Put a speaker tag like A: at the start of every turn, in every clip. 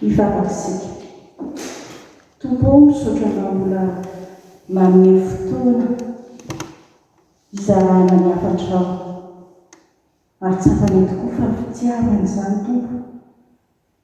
A: Hivavaka isika. Tompo ô, misaotra Anao mbola manome fotoana hizarana ny hafatrao. Ary tsapany tokoa fa ny fitiavana izany, Tompo.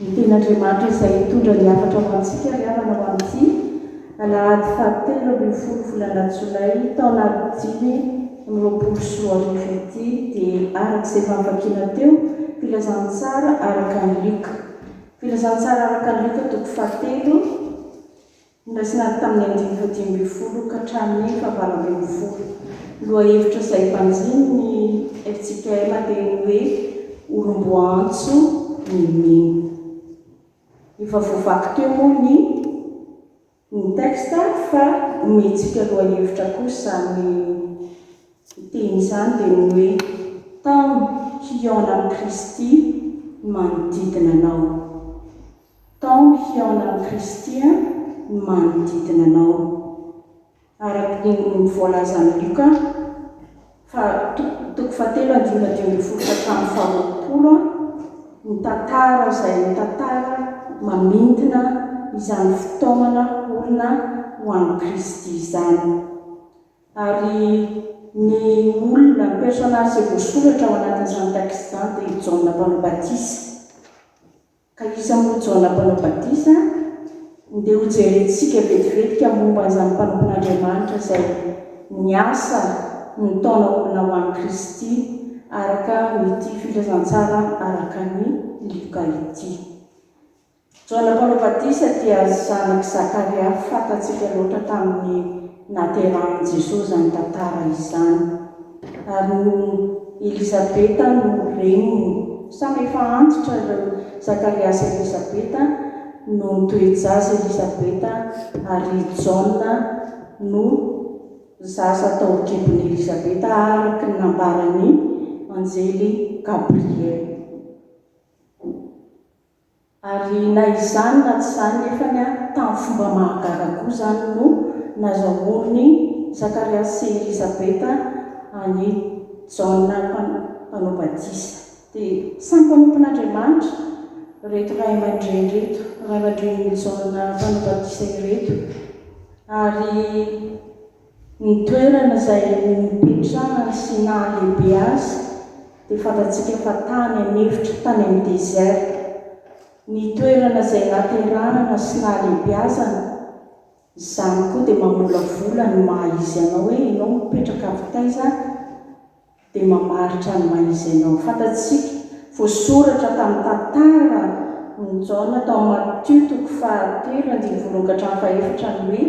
A: Ny Tenin'Andriamanitra izay hitondra ny hafatra ho antsika ry havana ho amin'ity alahady fahatelo ambin'ny folo volana jolay taona dimy amby roapolo sy roa arivo ity dia araka izay efa novakiana teo, Filazantsara araka an'i Lioka. Filazantsara araka an'i Lioka toko fahatelo. Noraisina avy tamin'ny andininy fahadimy ambin'ny folo ka hatramin'ny fahavalo ambin'ny folo. Ny lohahevitra izay banjinin'ny FJKM dia ny hoe olom-boaantso ny mino. Efa voavaky teo moa ny ny texte fa omentsika lohahevitra kosa izany teny izany dia ny hoe tahono hihaona amin'i Kristy ny manodidina anao. Taomy hihaona amin'i Kristy ny manodidina anao. Araka ny voalazan'i Lioka, fa, toko fahatelo andininy fahadimy ambin'ny folo ka hatramin'ny faharoapolo, ny tantara izay ho tantara mamintina izany fitaomana olona ho an'i Kristy izany. Ary ny olona, ny personnage izay voasoratra ao anatin'izany texte izany dia i Jaona Mpanao Batisa. ka iza moa Jaona Mpanao Batisa? Ndeha hojerentsika vetivetika momba an'izany mpanompon'Andriamanitra izay niasa nitaona olona ho an'i Kristy araka an'ity filazantsara araka an'i Lioka ity. Jaona Mpanao Batisa dia zanak'i Zakaria fantatsika loatra tamin'ny Naterahan'i Jesoa izany tantara izany. Ary ny Elisabeta no reniny. Samy efa antitra ireo, Zakaria sy Elisabeta no nitoe-jaza, Elisabeta, ary i Jaona no zaza tao an-kibon'i Elisabeta araka ny nambaran'ny anjely Gabriel. Ary na izany na tsy izany nefany tamin'ny fomba mahagaga koa izany no nazahoan'i Zakariasy sy Elizabeta an'i Jaona Mpanao Batisa. Dia samy mpanompon'Andriamanitra ireto ray aman-dreny ireto, ray aman-drenin'i Jaona Mpanao Batisa ireto. Ary. Ny toerana izay nipetrahany sy nahalehibe azy dia fantatsika fa tany an'efitra, tany amin'ny désert. Ny toerana izay naterahana sy nahalehibeazany, izany koa dia mamolavola ny maha izy anao hoe ianao mipetraka avy taiza? dia mamaritra ny maha izy anao. Fantatsika, voasoratra tamin'ny tantara n'i Jaona tao amin'ny Matio toko fahatelo andininy voalohany ka hatramin'ny fahefatra ny hoe,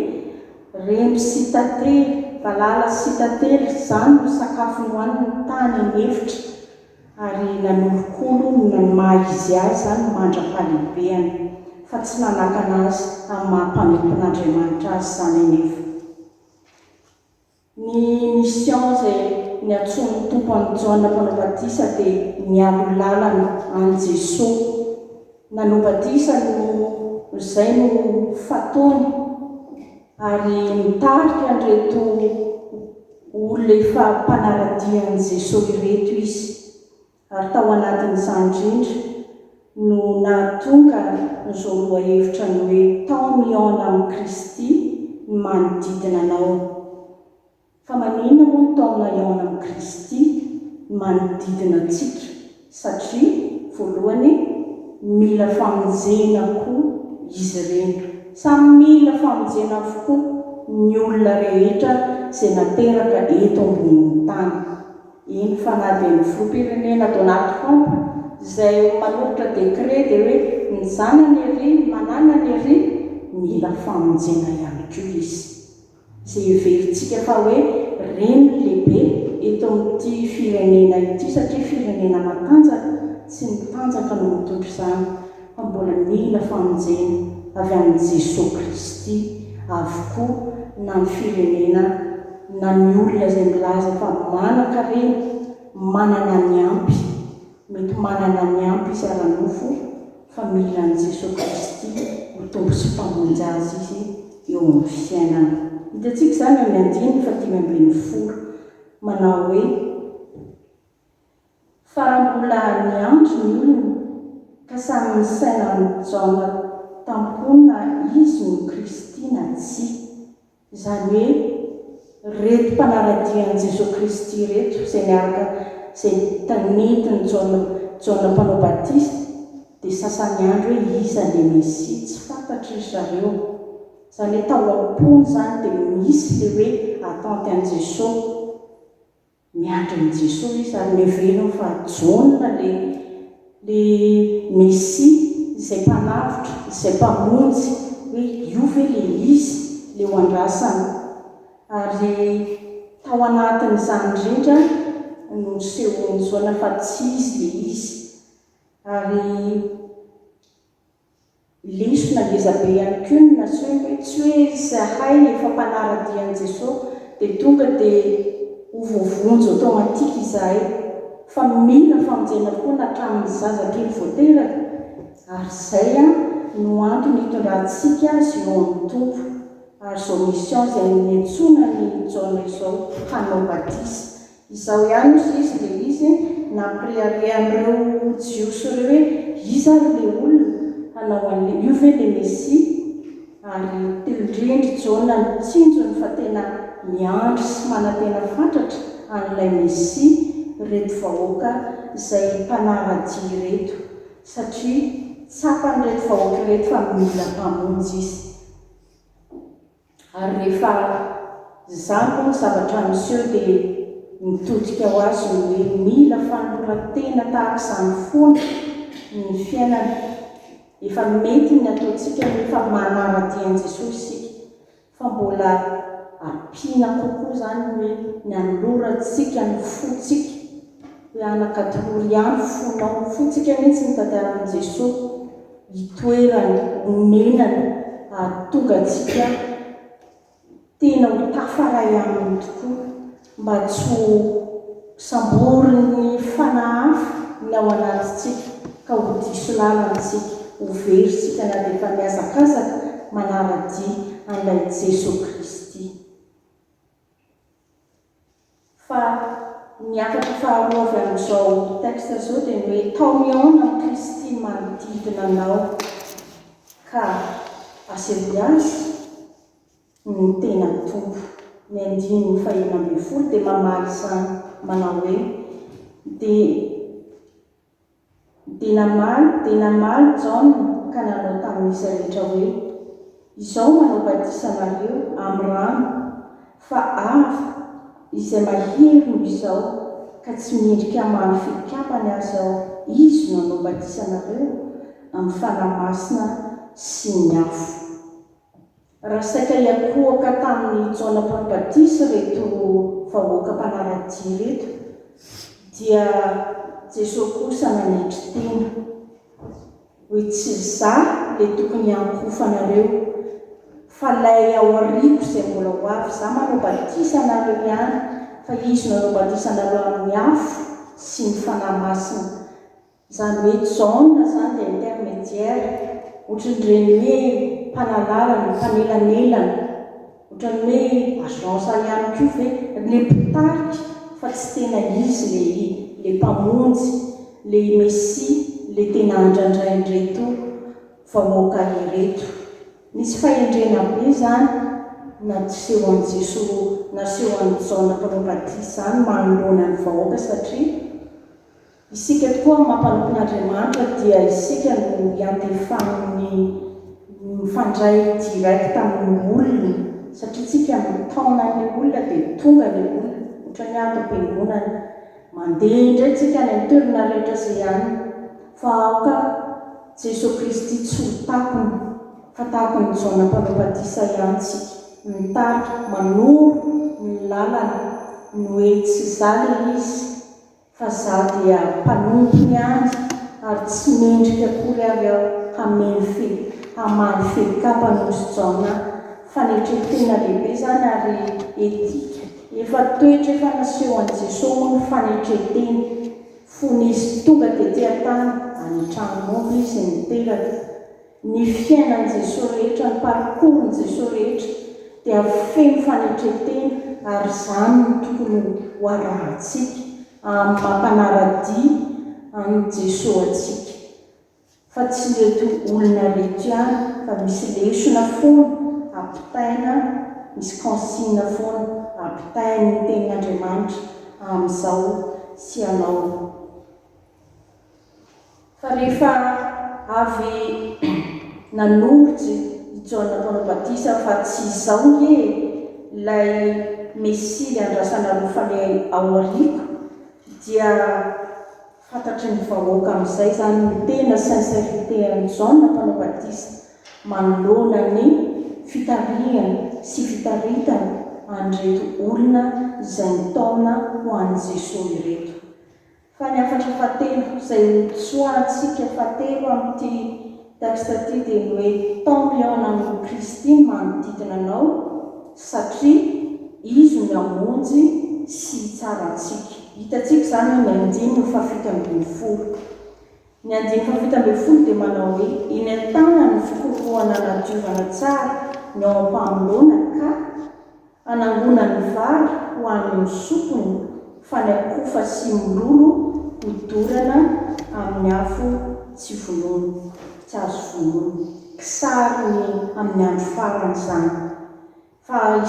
A: Remby sy tantely, valala sy tantely, izany no sakafo nohaniny tany an'efitra, ary nanolokolo ny maha izy azy izany mandra-pahalehibeany, fa tsy nanakana azy amin'ny maha mpanompon'Andriamanitra azy izany anefa. Ny mission izay niantsoan'ny Tompo an'i Jaona mpanao batisa dia niaro lalana an'i Jesoa nanao batisa no izay no fataony ary mitarika an'ireto olona efa mpanara-dia an'i Jesoa ireto izy. ary tao anatin'izany indrindra no nahatonga an'izao lohahevitra ny hoe tao mihaona amin'i Kristy ny manodidina anao. Fa maninona moa no tao mihaona amin'i Kristy ny manodidina antsika? Satria, voalohany, mila famonjena koa izy ireny. Samy mila famonjena avokoa ny olona rehetra izay nateraka eto ambonin'ny tany. Iny Fanadin'ny Filoham-pirenena Donald Trump izay manolotra décret dia hoe ny zanany ery, ny mananany ery, mila famonjena ihany koa izy. Izay heverintsika fa hoe ren'ny lehibe eto amin'ity firenena ity satria firenena matanjaka, tsy ny tanjaka no mitondra izany. fa mbola mila famonjena avy amin'i Jesoa Kristy avokoa na ny firenena na ny olona izay milaza fa manan-karena, manana ny ampy, mety manana ny ampy izy ara-nofo fa mila an'i Jesoa Kristy ho Tompo sy Mpamonjy azy izy eo amin'ny fiainany. Hitantsika izany eo amin'ny andininy fahadimy ambin'ny folo manao hoe. Fa raha mbola niantso ny olona ka samy misaina amin'i Jaona tampoho na izy no Kristy na tsia. Izany hoe ireto mpanara-dia an'i Jesoa Kristy ireto izay niaraka izay tanentin'i Jaona Jaona mpanao batisa dia sasa niandry hoe iza ilay Mesia tsy fantatry ry zareo. Izany hoe tao am-pony izany dia misy ilay hoe attente an'i Jesoa. Miandry an'i Jesoa izy ary miverina fa Jaona ilay ilay Mesia izay mpanavotra, izay mpamonjy hoe io ve ilay izy ilay ho andrasana? Ary tao anatin'izany rehetra no nisehoan'i Jaona fa tsy izy ilay izy ary Lesona ngeza be ihany koa ny naseho hoe tsy hoe izahay efa mpanara-dia an'i Jesosy dia tonga dia ho voavonjy automatique izahay fa mila famonjena foana hatramin'ny zaza kely vao teraka ary izay no antony hitondrantsika azy eo amin'ny Tompo ary izao mission izay niantsoana an'i Jaona izao hanao batisa Izao ihany ny sisa dia izy nampirehareha an'ireo Jiosy ireo hoe, Iza ary ilay olona hanao an'ilay, io ve ilay Mesia? Ary tendren-dry Jona ny tsinjony fa tena miandry sy manantena fatratra an'ilay Mesia ireto vahoaka izay mpanahy radia ireto, satria tsapan'ireto vahoaka ireto fa mila Mpamonjy izy. Ary rehefa zako ny zavatra miseho dia mitodika ho azy ny hoe mila fanoloran-tena tahaka izany foana ny fiainana. Efa mety ny ataontsika ny hoe efa manara-dia an'i Jesoa isika, fa mbola ampiana kokoa izany ny hoe ny anolorantsika ny fontsika, hoe anak'atolory ahy ny fonao, ny fontsika mihitsy no tadiavin'i Jesoa. itoerany onenana hahatonga antsika tena ho tafaray aminy tokoa mba tsy ho samborin'ny fanahy hafa ny ao anatintsika ka ho diso lalantsika, ho very tsika na dia efa mihazakazaka manara-dia an'ilay Jesoa Kristy. Fa ny hafatra faharoa avy amin'izao texte izao dia ny hoe, Tao mihaona amin'i Kristy ny manodidina anao ka asehoy Azy ny tena Tompo. Ny andininy fahenina ambin'ny folo dia mamaly izany manao hoe, Dia Dia namaly dia namaly Jaona ka nanao tamin'izy rehetra hoe, Izao manao batisa anareo amin'ny rano, fa Avo, izay mahery noho izao ka tsy mendrika hamaly filikapany aza aho, Izy no hanao batisa anareo amin'ny Fanahy Masina sy ny afo. Raha saika hiankohoka tamin'i Jaona Mpampbatisa ireto vahoaka mpanara-dia ireto, dia Jesoa kosa nanetry tena, hoe tsy izaho ilay tokony hiankohofanareo, fa ilay ao aoriako izay mbola ho avy. Izaho manao batisa anareo ihany, fa Izy no hanao batisa anareo amin'ny afo sy ny Fanahy Masina. Izany hoe Jaona izany dia intermédiaire, ohatran'ireny hoe mpanalalana, mpanelanelana, ohatran'ny hoe agence ihany koa ve, ilay mpitarika fa tsy tena izy ilay ilay mpamonjy, ilay Mesia, ilay tena handrandrain'ireto vahoaka ireto. Nisy fahendrena be izany naseho an'i Jesoa, naseho an'i Jaona mpanao batisa izany manoloana ny vahoaka satria Isika tokoa amin'ny maha-mpanompon'Andriamanitra dia isika no iantefan'ny mifandray direct amin'ny olona satria isika mitaona ny olona dia tonga ny olona ohatran'ny ato am-piangonana mandeha indray isika any amin'ny toerana rehetra izay any fa aoka Jesoa Kristy tsy ho takona fa tahaka an'i Jaona mpanao batisa ihany isika mitarika manoro ny lalana ny hoe tsy za ilay izy fa za dia mpanompo ny ady ary tsy mendrika akory ary aho hameno fe, hamaly fek'apa nosy Jaona, fanetren-tena lehibe zany ary etika, efa toetra efa naseho an'i Jesoa moa ny fanetren-tena, fony izy tonga dia tean-tany any an-tranom-omby izy niteraka, Ny fiainan'i Jesoa rehetra, ny parcours-n'i Jesoa rehetra dia feno fanetren-tena ary izany no tokony ho arahantsika amin'ny maha mpanara-dia an'i Jesoa antsika fa tsy ireto olona ireto ihany fa misy lesona foana ampitaina, misy consigne foana ampitain'ny tenin'Andriamanitra amin'izao sy anao Fa rehefa avy nanorjy i Jaona mpanao batisa fa tsy izao nge ilay Mesia andrasana roa fale ao aoriako dia fantatry ny vahoaka amin'izay izany ny tena sincérité an'i Jaona mpanao batisa manoloana ny fitarihany sy fitaritany an'ireto olona izay nitaona ho an'i Jesoa ireto. Fa ny hafatra fahatelo izay notsoahantsika fahatelo amin'ity texte ity dia ny hoe tant mion amour Christi ny manodidina anao satria Izy no hamonjy sy hitsara antsika. Hitantsika izany amin'ny andininy fahafito ambin'ny folo. Ny andininy fahafito ambin'ny folo dia manao hoe, Eny an-tanany ny fikorohoana hanadiovana tsara ny ao am-pamoloana ka hanangonany vary ho an'ny sokony fa ny akofa sy mololo ho dorana amin'ny afo tsy vonoina, tsy azo vonoina. Kisary ny amin'ny andro farany izany. Fa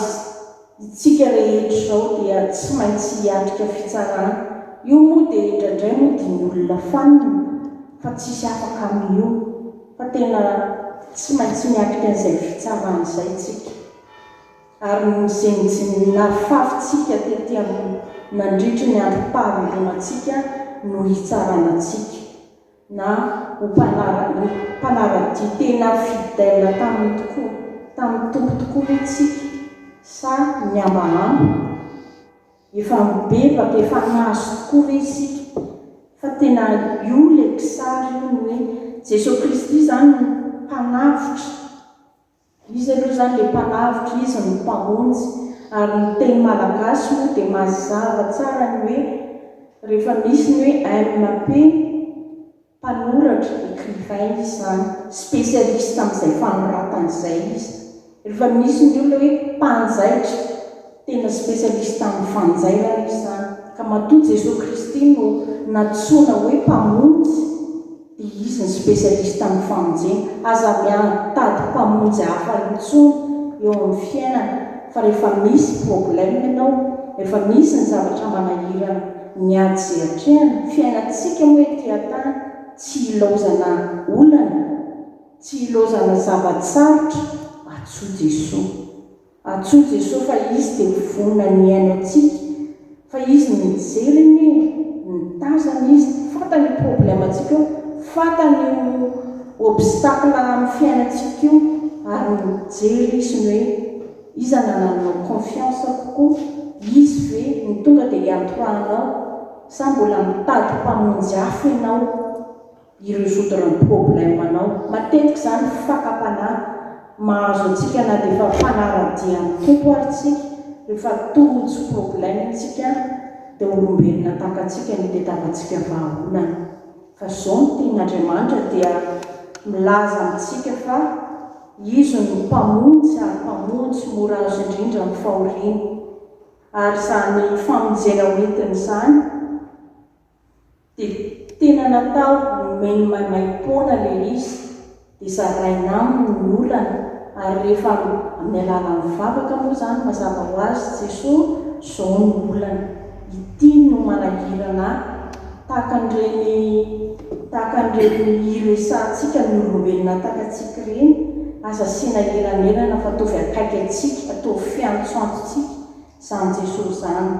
A: isika rehetra izao dia tsy maintsy hiatrika fitsarana. Io moa dia indraindray moa dia ny olona fanina fa tsisy afaka amin'io. Fa tena tsy maintsy miatrika an'izay fitsarana izay isika. Ary ny nahafavintsika tety amin'ny nandritry ny androm-pahavelomantsika no hitsarana antsika. na ho mpanara-dia tena fidèle taminy tokoa, tamin'ny Tompo tokoa ve tsika sa mihambahamba? Efa mibebaka, efa nahazo tokoa ve isika fa tena io ilay kisary io ny hoe Jesoa Kristy izany no mpanavotra Izy aloha izany dia mpalavitra, izy no mpamonjy ary ny teny malagasy moa dia mazava tsara ny hoe rehefa misy ny hoe MAP, mpanoratra, écrivain, izy izany. Spécialiste amin'izay fanoratana izay izy. Rehefa misy ny olona hoe mpanjaitra. Tena specialiste amin'ny fanjairana izy izany, ka matoa Jesoa Kristy no nantsoina hoe Mpamonjy dia Izy no specialiste amin'ny famonjena. Aza miantady mpamonjy hafa intsony eo amin'ny fiainana fa rehefa misy problème ianao, rehefa misy ny zavatra manahirana ny ady izay atrehana, fiainantsika moa ety an-tany tsy ilaozana olana, tsy ilaozana zava-tsarotra, antsoy Jesoa. Antsoy Jesoa fa Izy te ho vonona ny hihaino antsika fa Izy no mijery anie e, mitazana Izy, fantany io problème antsika io, fantany io obstacle amin'ny fiainantsika io ary mijery Izy ny hoe iza nanananao confiance kokoa, Izy ve no tonga dia hiantoranao sa mbola mitady mpamonjy hafa ianao? y resoudre ny problème nao. Matetika izany fakam-panahy mahazo antsika na dia efa fanara-dia ny Tompo ary tsika, rehefa tojo problème tsika dia olombelona tahaka antsika no itetavantsika vahaolana. Fa izao ny tenin' Andriamanitra dia milaza amintsika fa Izy no Mpamonjy ary Mpamonjy mora azo indrindra amin'ny fahoriana. Ary izany famonjena ho entin'izany. dia tena natao nomeny maimaim-poana ilay izy dia zaraina aminy ny olana ary rehefa amin'ny alalan'ny vavaka moa izany mazava ho azy Jesoa izao no olana ity no manahirana ahy tahaka an'ireny tahaka an'ireny iresahantsika ny olombelona takatsika ireny aza asiana elanelana fa ataovy akaiky antsika ataovy fiantsoantsotsika izany Jesoa izany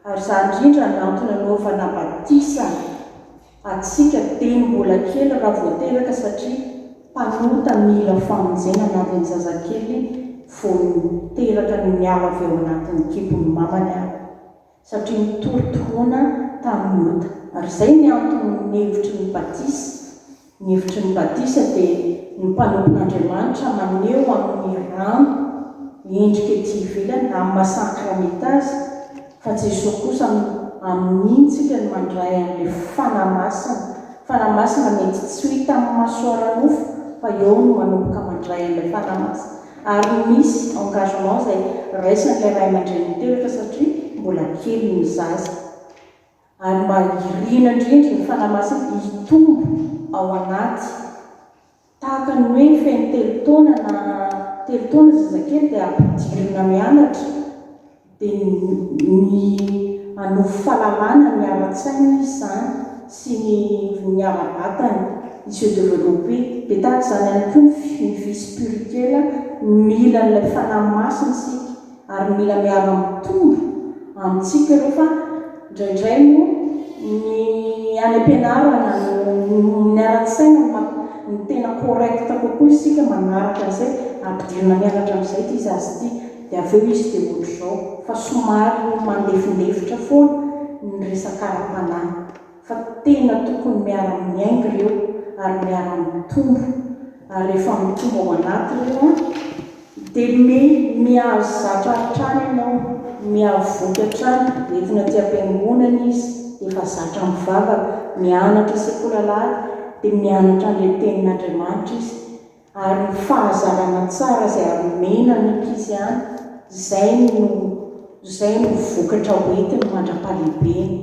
A: Ary izany indrindra no antony anaovana batisa antsika teny mbola kely raha vao teraka satria mpanota mila famonjena na dia ny zazakely vao teraka no miala avy ao anatin'ny kibon'ny mamany ary satria nitory tohona tamin'ny ota ary izay ny antony ny hevitry ny batisa Ny hevitry ny batisa dia ny mpanompon'Andriamanitra maneho amin'ny rano ny endrika ety ivelany na amin'ny maha sakramenta azy, fa Jesoa kosa amintsika no mandray an'ilay Fanahy Masina, Fanahy Masina mety tsy ho hita amin'ny maso ara-nofo fa eo no manomboka mandray an'ilay Fanahy Masina ary misy engagement izay raisin'ilay Ray aman-dReny niteraka satria mbola kely ny zaza. Ary mba irina indrindra ny Fanahy Masina hitombo ao anaty. Tahaka ny hoe feno telo taona na telo taona ny zazakely dia ampidirina mianatra, dia ny hanofy fahalalana ny ara-tsainy izy izany sy ny ny ara-batany, il se developper. Dia tahaka izany ihany koa ny ny vie spirituelle, mila an'ilay Fanahy Masina isika. ary mila miara mitombo amintsika ireo fa indraindray moa ny any ampianarana no niara-nisaina ny maha ny tena correct kokoa isika manaraka an'izay ampidirina mianatra amin'izay ity zaza ity dia avy eo izy dia ohatr'izao fa somary mandefindefitra foana ny resaka ara-panahy. fa tena tokony miara-miainga ireo ary miara-mitombo ary rehefa mitombo ao anaty ireo an, dia mihazo zatra hatrany ianao, mihavoky hatrany, entina aty am-piangonana izy dia efa zatra mivavaka, mianatra sekoly alahady dia mianatra an'ilay tenin'Andriamanitra izy, ary io fahazarana tsara izay hamena ny ankizy ihany, izay no, izay no vokatra hoentiny mandra-pahalehibeny,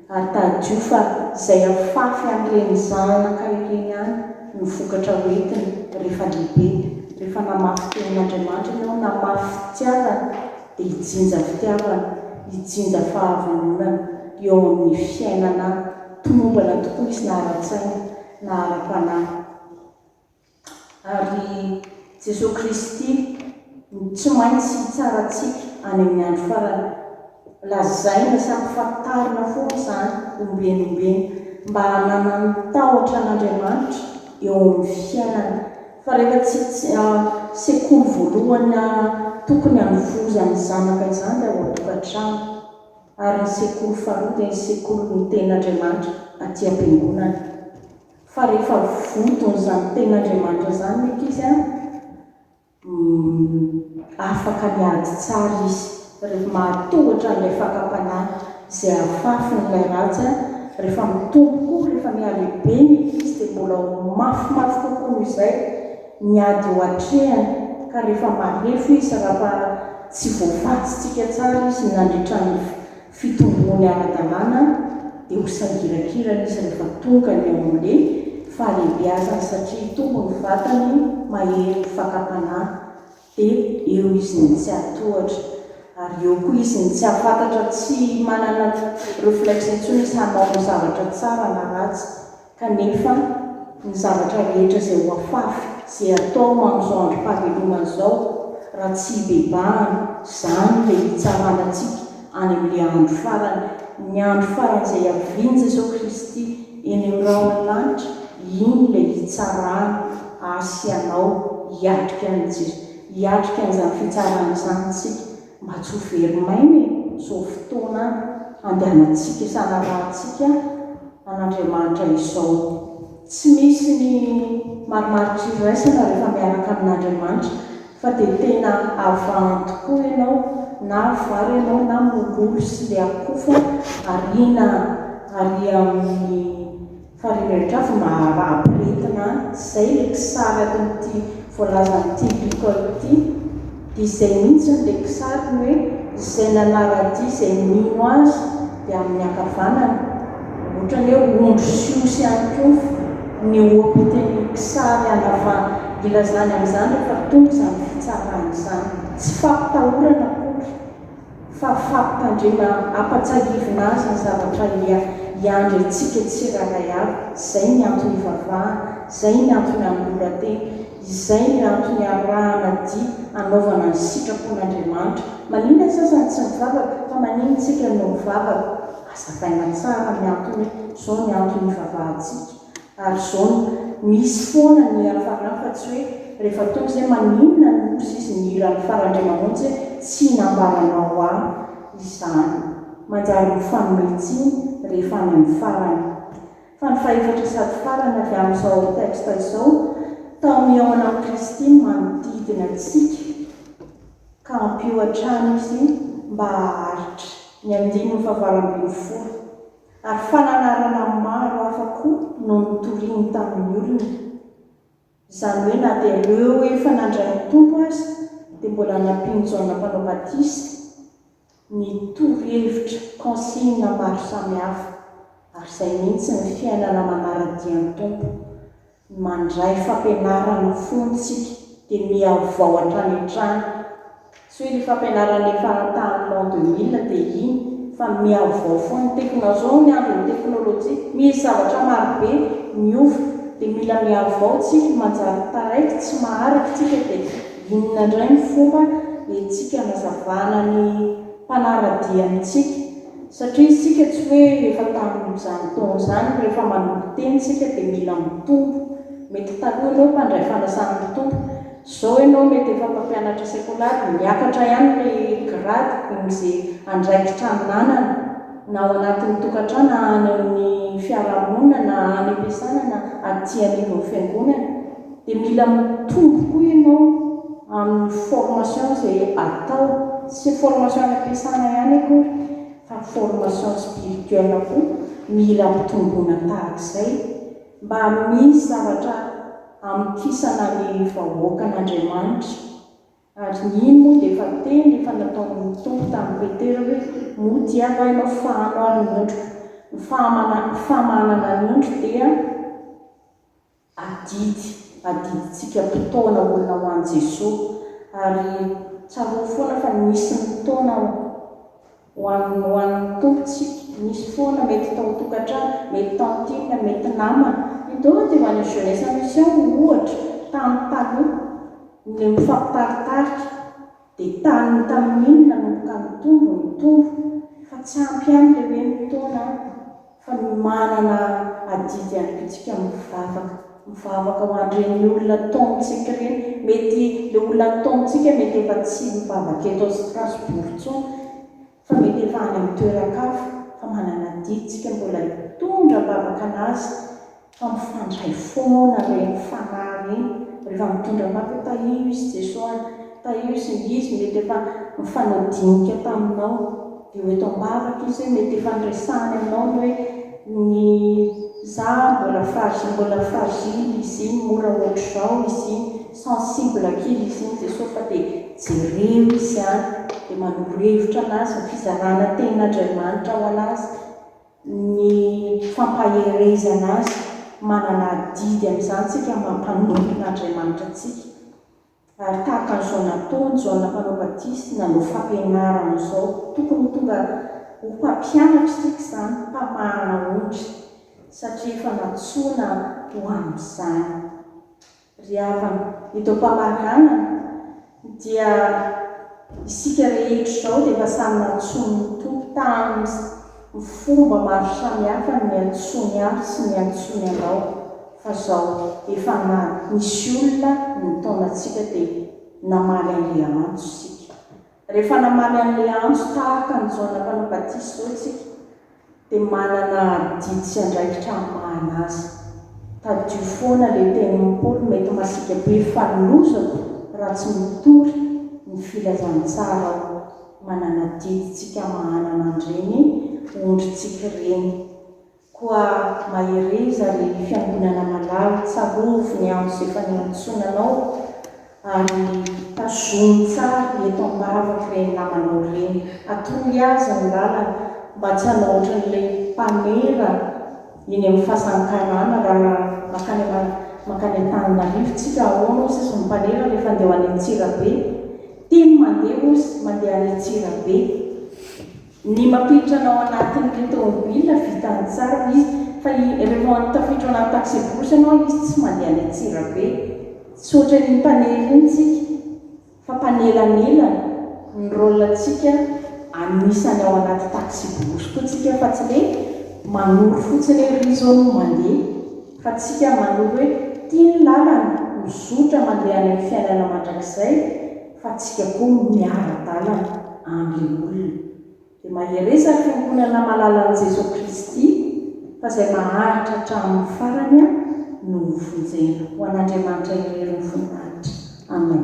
A: ary tadidio fa izay afafy an'ireny zanaka ireny ihany no vokatra hoentiny rehefa lehibe, rehefa namafy tenin'Andriamanitra ianao, namafy fitiavana, dia hijinja fitiavana, hijinja fahavononana eo amin'ny fiainana tomombana tokoa izy na ara-tsaina na ara-panahy. Ary Jesoa Kristy no tsy maintsy hitsara antsika any amin'ny andro farany. Lazaina sy ampifantarina foana izany ombieny ombieny mba hananan'ny tahotra an'Andriamanitra eo amin'ny fiainana. Fa rehefa tsy sekoly voalohany tokony hanovozany ny zanaka izany dia ao an-tokantrano. Ary ny sekoly faharoa dia ny sekolin'ny tenin'Andriamanitra aty am-piangonana. Fa rehefa vodon'izany tenin'Andriamanitra izany ny ankizy an, afaka miady tsara izy, rehefa mahatohitra an'ilay fakam-panahy izay afafiny ilay ratsy an, rehefa mitombo koa, rehefa mihalehibe ny ankizy dia mbola ho mafimafy kokoa noho izay ny ady eo atrehany, ka rehefa marefo izy, raha tsy voavatsitsika tsara izy nandritra ny fitomboany ara-dalàna dia ho sangirakirana izy rehefa tonga ny eo amin'ny fahalehibeazany satria hitombo ny vatany mahery ny fakam-panahy dia eo izy ny tsy hahatohatra ary eo koa izy ny tsy hahafantatra tsy manana reflexe intsony izy hanao ny zavatra tsara na ratsy Kanefa, ny zavatra rehetra izay hoafafy sy hatao amin'izao androm-pahavelomana izao, raha tsy hibebahana, izany ilay hitsarana antsika any amin'ilay andro farany, ny andro farany izay havian'i Jesoa Kristy eny amin'ny rahona lanitra, iny ilay hitsarana ahy sy anao, hiatrika an'izany fitsarana izany isika. Mba tsy ho very maina e! Izao fotoana andehanantsika sy hanarahantsika an'Andriamanitra izao. Tsy misy ny marimaritra iraisana rehefa miaraka amin'Andriamanitra fa dia tena avahany tokoa ianao na vary ianao na mololo sy le akofa ariana ary amin'ny Fa ry Meltrafo mba ampirehetina an! Zay le kisary atin'ity voalazan'ity Licol ity, dia izay mihintsiny le kisariny hoe izay nanara-dia izay mino azy dia amin'ny ankavanany, otrany hoe ondry sy osy ihany koa ny ohapitan'ny kisary anava ilazany amin'izany rehefa tonga izany fitsarana izany. Tsy fampitahorana akory. fa fampitandrena ampatsahivina azy ny zavatra ia iandry antsika tsirairay avy, izay ny antony ivavahana, izay ny antony anoloran-tena, izay ny antony arahana dia anaovana ny sitrapon'Andriamanitra. Maninona ny sasany tsy mivavaka, fa maninona isika no mivavaka? Azavaina tsara ny antony hoe izao ny antony ivavahantsika. Ary zao no misy foana ny hiafarana fa tsy hoe rehefa tonga izay maninona ny loza izy nihira ny farany indray mamonjy hoe tsy nambaranao ahy izany. Manjary mifanome tsiny rehefa any amin'ny farany. Fa ny fahefatra sady farany avy amin'izao texte izao, tao mihaona amin'i Kristy ny manodidina antsika ka ampio hatrany izy mba haharitra. Ny andininy fahavalo ambin'ny folo. Ary fananarana maro hafa koa no notoriny tamin'ny olona. Izany hoe na dia ireo efa nandray ny Tompo aza dia mbola nampian'i Jaona Mpanao Batisa ny torohevitra, consignes, maro samihafa. Ary izay mihitsy ny fiainana manara-dia ny Tompo. Mandray fampianarana fony tsika dia mihavao hatrany hatrany. Tsy hoe le fampianarana efa tamin'ny l'an deux mille dia iny fa mihavao fony. Ny teknao zao ny andron'ny teknolojia misy zavatra marobe miova dia mila mihavao tsika manjary taraiky tsy maharaka tsika dia inona ndray ny fomba entsika anazavana ny mpanaradia amintsika Satria isika tsy hoe efa tamin'izany taona izany, rehefa manompo teny isika dia mila mitombo. Mety taloha ianao mpandray fanasana mpitombo, izao ianao mety efa mpampianatra sekolary, miakatra ihany ilay grady amin'izay andraikitra ananana, na ao anatin'ny tokantrano na any amin'ny fiarahamonina na any am-piasana na aty anivon'ny fiangonana. Dia mila mitombo koa ianao amin'ny formation izay atao, tsy hoe formation any am-piasana ihany akory fa formation spirituelle koa mila ampitomboina tahaka izay mba misy zavatra amokisana ny vahoakan'Andriamanitra. Ary ny iny moa dia efa teny efa nataon'ny Tompo tamin'i Petera hoe moa dia angaha ianao fahano ary ny ondriko, ny fahamana, famahanana ny ondry dia. Adidy adidintsika mpitaona olona ho an'i Jesoa, ary tsarovy foana fa nisy ny taona ho an'ny ho an'ny Tompontsika, nisy foana mety tao an-tokantrano, mety tantine, mety namana, ny taona teo any Jeunesse en Mission ohatra, tany taloha, ny mifampitaritarika, Dia tany tamin'iny nanomboka nitombo ny tour fa tsy ampy ihany ilay hoe ny taona an, fa ny manana adidy ihany koa tsika mivavaka, mivavaka ho an'ireny olona taomintsika ireny, mety ilay olona taomintsika mety efa tsy mivavaka eto Strasbourg intsony, fa mety efa any amin'ny toeran-kafa fa manana didy tsika mbola hitondra am-bavaka anazy fa mifandray foana ireny fanahy ireny rehefa mitondra am-bavaka tahio izy Jeso a! tahio izy ny izy mety efa nifanao dinika taminao dia ho eto am-bavaka izy hoe mety efa niresahany aminao ny hoe ny za mbola fragile mbola fragile izy iny mora ohatr'izao izy iny Sensible kely izy iny Jesosy fa dia jereo izy any dia manoro hevitra anazy ny fizarana ny tenin'Andriamanitra ho anazy, ny fampaherezana azy, manana adidy amin'izany isika maha mpanompo n'Andriamanitra antsika ary tahaka an'izao nataony Jaona mpanao batisa nanao fampianarana izao tokony ho tonga ho mpampianatra isika izany, mpamahana ondry satria efa nantsoina ho amin'izany. Ry havana, idoam-pamaranana, dia isika rehetra izao dia efa samy nantsoin' ny Tompo tamin' ny fomba maro samihafa ny niantsoany ahy sy niantsoany anao, fa izao efa na nisy olona nitaona antsika dia namaly Andriamanitso isika. Rehefa namaly an'ilay antso tahaka an'i Jaona Mpanao Batisa izao isika, dia manana adidy sy andraikitra hamahana azy. Tadidio foana ilay tenin'i Paoly mety masiaka be fa lozako raha tsy mitory ny filazantsara aho. Manana adidintsika hamahana mandre ny ondrintsika ireny. Koa mahereza ry Fiangonana malala, tsarovy ny andro izay efa niantsoana anao, ary tazomy tsara eto am-bavaka ireny namanao ireny, atoroy azy ny lalana, mba tsy hanao ohatran'ilay mpanera eny amin'ny fasan-karana, raha mankany mankany Antananarivo tsika, ahoana hoy sisa ny mpanera rehefa andeha ho any Antsirabe? Tim mandeha hoy izy, mandeha any Antsirabe. Ny mampiditra anao anatin'ny tomobila vita an-tsary izy fa i rehefa tafiditra anaty taxi-brousse ianao izy tsy mandeha any Antsirabe. Tsy ohatran'iny mpanely iny tsika fa mpanelanelana. Ny rôle-ntsika anisany ao anaty taxi-brousse koa tsika fa tsy le manoro fotsiny hoe ry izao no mandeha fa tsika manoro hoe ty ny lalana, mizotra mandeha any amin'ny fiainana mandrakizay. fa tsika koa miara-dalana amin olona de mahereza ny fiangonana malala an'i Jesoa Kristy fa zay maharitra hatramin'ny farany a no ho vonjena ho an'Andriamanitra irery ny fontanitra Amen.